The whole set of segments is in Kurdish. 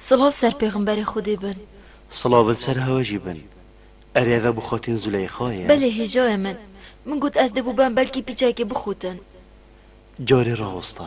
Silav ser pêxemberê Xwedê bin. Silav li ser hewe jî bin. Erê eve bi xotên Zûleyxa ye? Belê hêjayê min. Min got ez dê bûbem belkî pîçekê bixotin. Carê rawosta.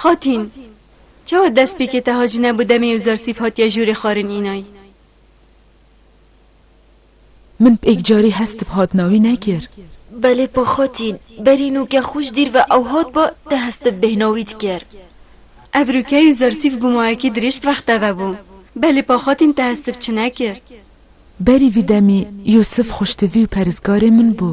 Xatîn! Çawa destpêkê te hacî nebû demê Uzarsîf hatiye jûrê xwarin înay? Min pêk carî hes tib hatina wî nekir. Belê pa xatîn, berî nûke xwe ji dîr ve ew hat ba te hes tib bêhna wî diker. Ev rûkey Uzarsîf bû mayekî dirêj rexte ve bû. Belê pa xatîn te hes tib çi nekir. Berî vî demî Yûsif xwiştivî û peristgarê min bû.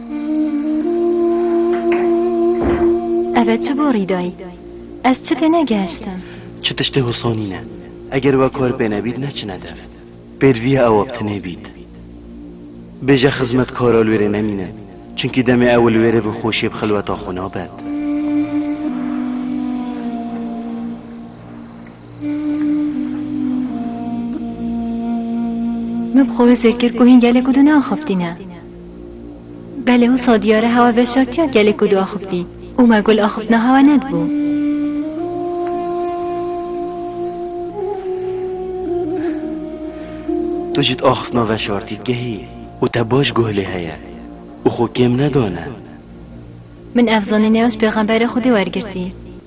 Ev e çi borî dayî? Ez çi tê negehiştim? Çi tiştê hûsanî ne. Eger we kar pê nebît neçine dev. Pêrvîya ew ap tinê bît. Bêje xizmetkara li wê rê nemînin. Çunkî demê ew li wê rê bi xweşiyê bi xilweta xwe nabet. Min bi xwe wê zêr kir ku hîn gelek û dinaxeftîne. Belê wisa diyar e hewa veşartiya gelê ku diaxivtî û me gul axiftina hewa nedibû. Tu jî di axiftina veşartî digehî û te baş guh lê heye û xwe kêm nedane. Min ev zanînê ez pêxemberê Xwedê wergirtî.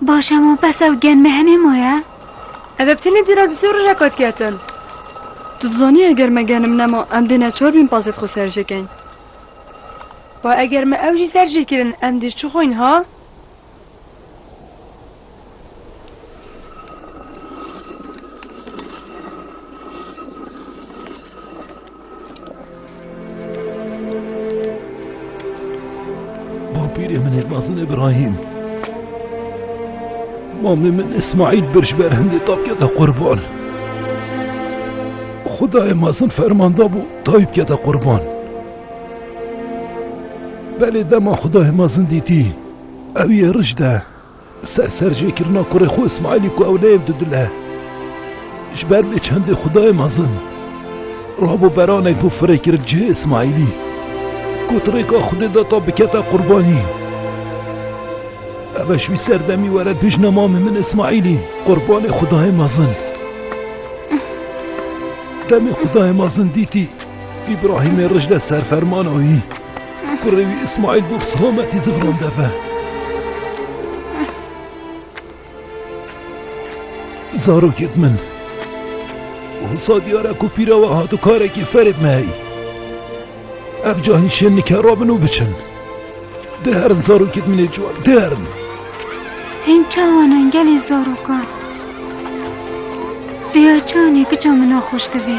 Başa mı pes ev gen mehene mı ya? Ev heptini dira di sor re kat ketin. Tu dizanî eger me genim nema em dê neçar bîn pazet xwe serjêkin. Ba eger me ew jî serjêkirin em dê çi xweyn ha? Bapîrê min ê mezin İbrahim. Mamê min İsmail bir ji ber hindê tapya de qurban. Xudayê mezin fermanda bû taypya de qurban. Belê dema Xudayê mezin dîtî. Ew yê rij de ser ser jê kirina kurê xwe Îsmaîlî ku ew neyê di dile. Ji ber vê çendê xwedayê mezin rabo beranek bû firêkirin cihê Îsmaîlî. Got rêka xwedê de ta bikete qurbanî. Eve ji wî serdemî were dijne mamê min Îsmaîlî qurbanê xwedayê mezin. Demê xwedayê mezin dîtî Îbrahîmê rij de serfermana wî. Kurê wî Îsmaîl bû bi selametî zivinan deve. Zarokê di min. Wisa diyare ku pîra we hatu karekî ferê me heyî. Ev cahî şên nikera bin û biçin. Di herin zarokê di minê ciwan, di herin. Hên çawan in gelê zarokan. Diya çanê kiça min naxweş divê.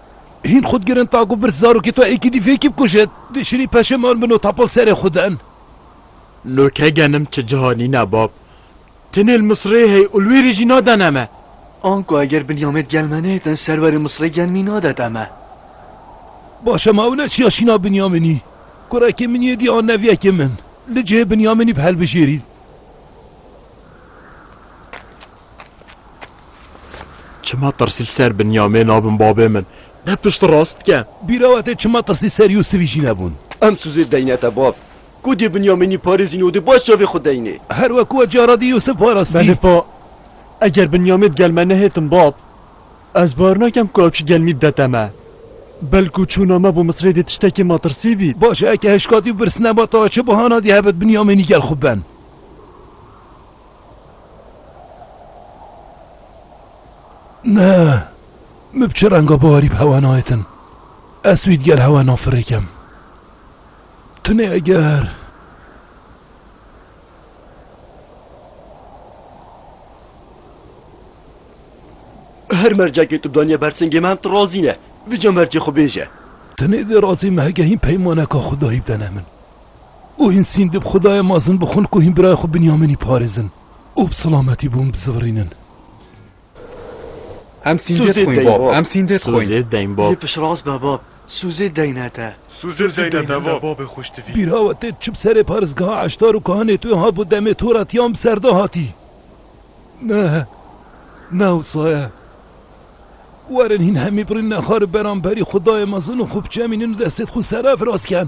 Hîn xwe digirin ta ku vir zarokê to êkîdî vêkî bikuje. Dê şînî peşêman bin û tapol serê xwe din. No ke genim çi ciha nîne bab. Tenê li Misirê hey û li wê rê jî nadene me. Anku eger Binyamed gel me nêdin serverê Misirê gel mî nadete me. Baş e ma ew ne çiya şîna Binyaminî. Kurekê min yê dî an neviyekê min. Li cihê Binyaminî bi helbijêrîn. Çima tirsî li ser Binyamê nabin babê min? Ne piştrast dike. Bîra we tê çima tirsî ser Yûsivî jî nebûn? Em Sûzê deyne te bab. Ku dê Binyamînî parêzîn û dê baş çavê xwe deynê. Her wek we cara dî Yûsiv parastî. Benipa, eger Binyamê di gel me nehêtin bab, ez bawer nakim ku ew çi gel mî bide te me. Belkû çûna me bo Misrê dê tiştekê matirsî bît. Baş e, eke hişkatî û birsine ba tawe çi bahana dî hebit Binyamînî gel xwe ben? Ne, min bi çi renga biharî bi hewa nayetin. Ez wî digel hewa nafirêkim. Tunê eger. Her mercekê tu daniye ber singê me em tu razî ne. Vija mercê xwe bêje. Tunê dê razî me hegehîn peymaneka xwe dayî bidene min. Û hîn sîn di bi Xwedayê mezin bixwin ku hîn birayê xwe Binyaminî parêzin û bi silametî bi wan bizivirînin. Em sîn dê dixwin bab. Em sîn dê dixwin. Sozê deyn bab. Lê piştrast be bab. Sozê deyne te. Sozê deyne te bab. Babê xwe ji te vî. Bîra we tê di çi bi serê parêzgeha eştar û kahinê tu hat bo demê to re ti yan bi ser de hatî? Ne, ne wisa ye. Werin hîn hemî birîn nexar û beramberî Xwedayê mezin û xwe biçemînin û destê xwe serefirasken.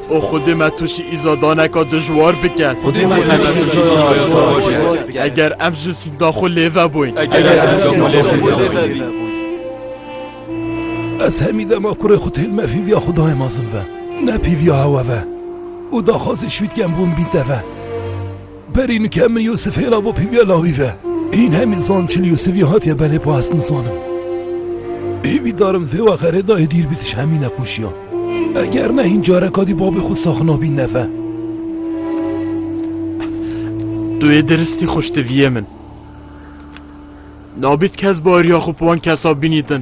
û Xwedê me tu jî îzadaneka dijwar bike. Xwedê me tu jî îzadaneka dijwar bike. Eger em ji zînda xwe lê vebûn. Eger em ji zînda xwe lê vebûn. Ez hemî dema kurê xwe têl me pîviya Xwedayê mezin ve, ne pîviya hewe ve û daxwazê şwîtken bûn bîn te ve. Berîn ke min Yûsif hêla bo pîviya lawî ve. Hîn hemî zan çil Yûsifî hatiye belê bo ez nizanim. Pîvî darim vê wexe rê dayê dîr bîtiş hemî nexweşiya. Eger ne hîn careka dî babê xwe sax nabî neve. Tu yê diristî xweş diviyê min. Nabît kes bariya xwe bi wan kesa bînîtin.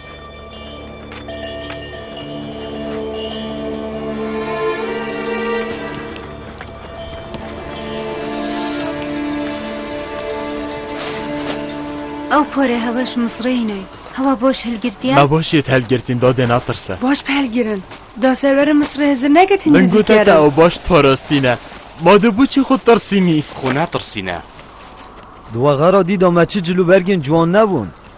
Ew porê heweş misreyîne. Hewa boş hilgirtiye. Me boş yê telgirtîn dadê natirse. Baş bi helgirin. Da serverê Misrê Hizir negetin Min gote te ew baş parastîne. Ma de boçî xwe tirsînî. Xwe netirsîne. Di wexera dî de me çi cilûbergên ciwan nebûn.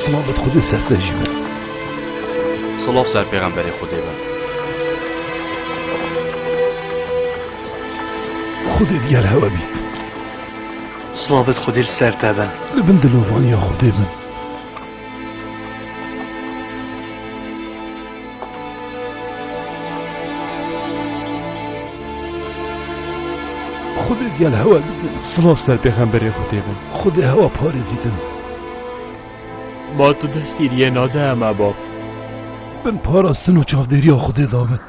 Sılavet Xudê serte jî be. Sılav ser pêxemberê Xudê be. Xudê diger hewe bît. Sılavet Xudê li ser te be. Li bin dilovaniya Xudê bin. Xudê diger hewe bît. Sılav ser pêxemberê Xudê be. Xudê hewa parêzîtin. Ma tu destî riyê nade me bab. Bin parastin û çavdêriya Xwedê da min.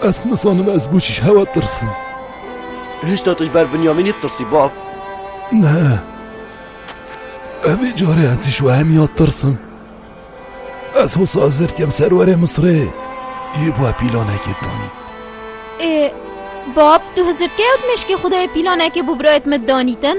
Ez nizanim ez bû çi hewa tirsim. Hişta tu ji ber Binyamînî tirsî bab? Ne. Evê carê ez ji wehemiya tirsim. Ez hosa zirtiyem serwerê Misrê. Yê bû pîlanekê danî. Ê bab tu hizirkeyot meşkê Xwedê pîlanekê bû birayet me danîtin?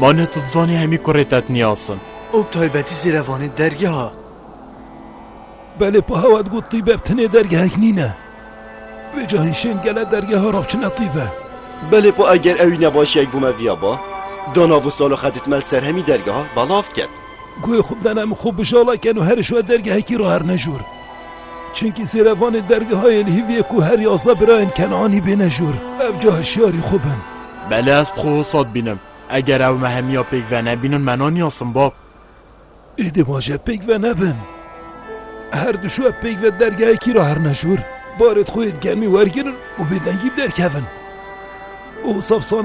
Ma ne tu dizanî hemî kurê te tniyas in. Ew bi taybetî zêr e vanê dergeha. Belê pa hewa digot tîbev tenê dergehek nîne. Vê cahî şên gele dergeha rav çine tîbe. Belê pa eger ewî ne başiyek bo me viya ba. Da nav û salo xedit mel ser hemî dergeha belav ket. Guhê xwe bidene min xwe bijala ken û herişwe dergehekî ra herne jûr. Çimkî sêrevanên dergeha yê li Hîviyê ku her yazdeh birayên Kenanî bêne jûr, ev ca hişyarî xwe bin. Belê ez dixwe wisa dibînim. Eger ew me hemiya pêk venebînin me naniyasin bab. Êdî vaje pêk venebin. Her du şo ev pêk ve dergehekî re herine jûr. Barê dixwe yê di germî wergirin û bêdengî bi derkevin. Û saf saneyên